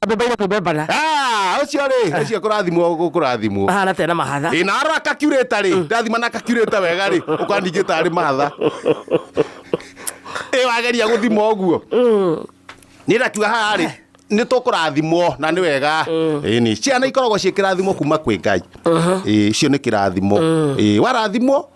Abembaire kubembana. Ah, ũcio rĩ ũcio kũrathimwo gũkũrathimwo Ahana tena mahatha. ĩ na arora kakiurĩta rĩ ndathima na kakiurĩta wega rĩ ũkaningĩta arĩ matha ĩ wageria gũthima ũguo nĩ ndakiuga haha rĩ nĩ tũkũrathimwo na nĩ wega ĩ nĩ ciana ikoragwo ciĩ kĩrathimo kuma kwĩ ngai ĩ cio nĩ kĩrathimo ĩ warathimwo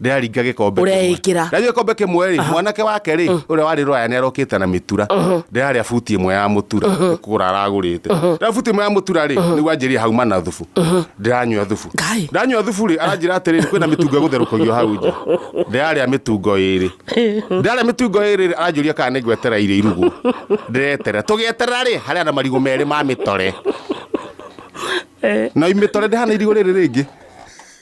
ndĩraringa gĩkombe Ũreĩkĩra. kĩmwe. na gĩkombe kĩmwe rĩ mwanake wake rĩ ũrĩa warĩ rũraya nĩ arokĩte na mĩtura ndĩrarĩa buti ĩmwe ya mũtura nĩ kũgũra aragũrĩte ndĩrarĩa buti ĩmwe ya mũtura rĩ nĩguo anjĩrie hauma na thubu ndĩranyua thubu Ngai. ndanyua thubu rĩ aranjĩra atĩrĩrĩ kwĩna mĩtungo ĩgũtherũkagio hau nja ndĩrarĩa mĩtungo ĩrĩ ndĩrarĩa mĩtungo ĩrĩ rĩ aranjũria kana nĩ ngwetera irio irugu ndĩreterera tũgĩeterera rĩ harĩa na marigũ merĩ ma mĩtore na imĩtore ndĩhana irigũ rĩrĩ rĩngĩ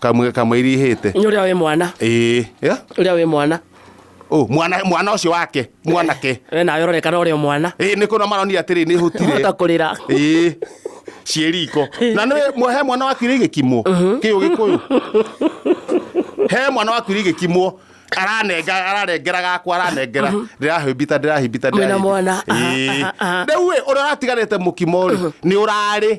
kamwe kamwe iria ihĩte nä å rä a wä mwana ĩĩ yeah? å rä a wä mwana oh, mwana mwana ũcio wake mwanake we nawe å rorekana å rä o mwana ĩĩ nĩ kũna maronire atĩrĩ nĩ hotire hota kå rä ra ĩĩ ciĩriko na nĩ mwe- he mwana waku iria igĩkimwo kĩ ũgĩkũyũ he mwana waku iria igĩkimwo aranenga ararengera gakwa aranengera ndĩrahimbita ndĩrahimbita Mwĩna mwana, aha, aha, aha. rĩu ĩ ũrĩa ũratiganĩte mũkimo rĩ nĩ ũrarĩ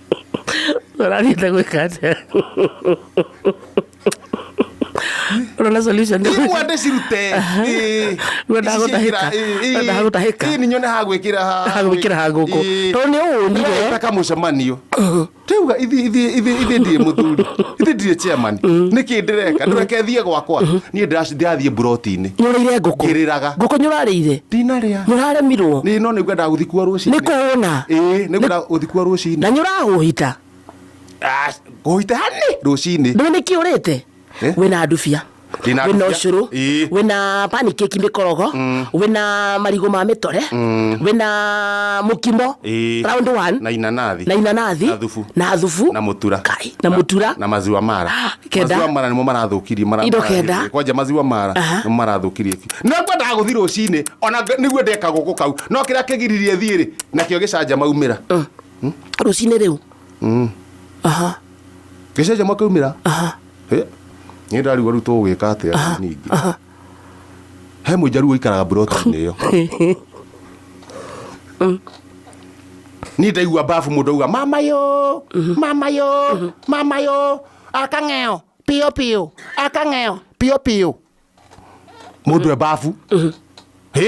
ũrathiĩte gwĩka atĩa ũrona solution igua ndĩcirute Ĩĩ. Ngwendaga gũtahĩka. Icicigĩra, ĩĩ, ĩĩ. Ngwendaga gũtahĩka. Ĩĩ, nĩ nyone ha gwĩkĩra haha. hagwĩkĩra ha ngũkũ Ĩĩ. tondũ nĩ ũwonire Ndĩragĩta kamũcemanio tauga ithiĩ ithiĩ ithiĩ ithiĩ ndirĩ mũthuri ithiĩ ndirĩ chairman nĩkĩ ndĩreka ndũreke thiĩ gwakwa niĩ ndĩraci- ndĩrathiĩ mburoti-inĩ nyũrĩire ngũkũ Ngĩrĩraga. ngũkũ nyũrarĩire ndinarĩa nyũraremirwo nĩ no nĩ ngwendaga gũthiĩ kuo rũcinĩ nĩ kũhũna ĩĩ nĩ ngwendaga gũthiĩ kuo rũcinĩ na nyũrahũhita kũhũita hanĩ rũcinĩ ndũĩ nĩkĩ ũrĩte Eh? wĩna ndubia Ndĩna wĩna ndubia. ũcũrũ Ĩĩ. wĩna panikĩki mĩkorogo wĩna marigũ ma mĩtore wĩna mũkimo Ĩĩ. round one na inanathi na inanathi Na thubu. na thubu Na mũtura. Kai, na mũtura na maziwa mara Kenda. maziwa mara nimo marathũkirie mara- Indo mara- kenda. kwanja maziwa mara Aha. nimo marathũkirie biũ. nĩ ngwendaga gũthiĩ rũcinĩ ona nge- nĩguo ndeka gũkũ kau no kĩrĩa kĩgiririe thiĩ rĩ nakĩo gĩcanja maumĩra rucinä rä u aha gĩcanja makaumĩra aha Ĩ, nĩ ndarigwo rĩu tũgwĩka atĩa ningĩ he mũjaruo ikaraga mburoti-inĩ ĩyo niĩ ndaigua mbabu mũndũ auga mamayo mamayo mamayo akang'eo piyo piyo akang'eo piyo piyo mũndũ e mbabu Hĩ,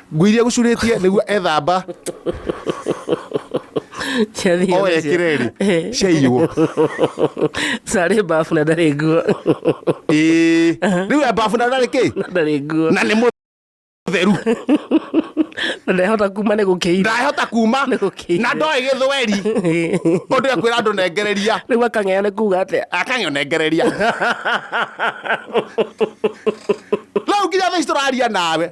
nguo iria gucurĩtie nĩguo ethamba Ciathiĩ oye nacio. kĩreri Eh, ciaiywo Sarĩ mbabu na ndarĩ nguo. Ĩĩ. rĩu embabu na ndarĩ kĩ Na ndarĩ nguo. na nĩ mũtheru Na ndehota kuma nĩ gũkĩira. ndahota kuma Nĩ gũkĩire. na ndoĩ gĩthweri ũndũ ekwĩra andũ nengereria Rĩu akang'eyo nĩ kuga atĩa? akang'e nengereria rĩu nginya thaa ici tũraria nawe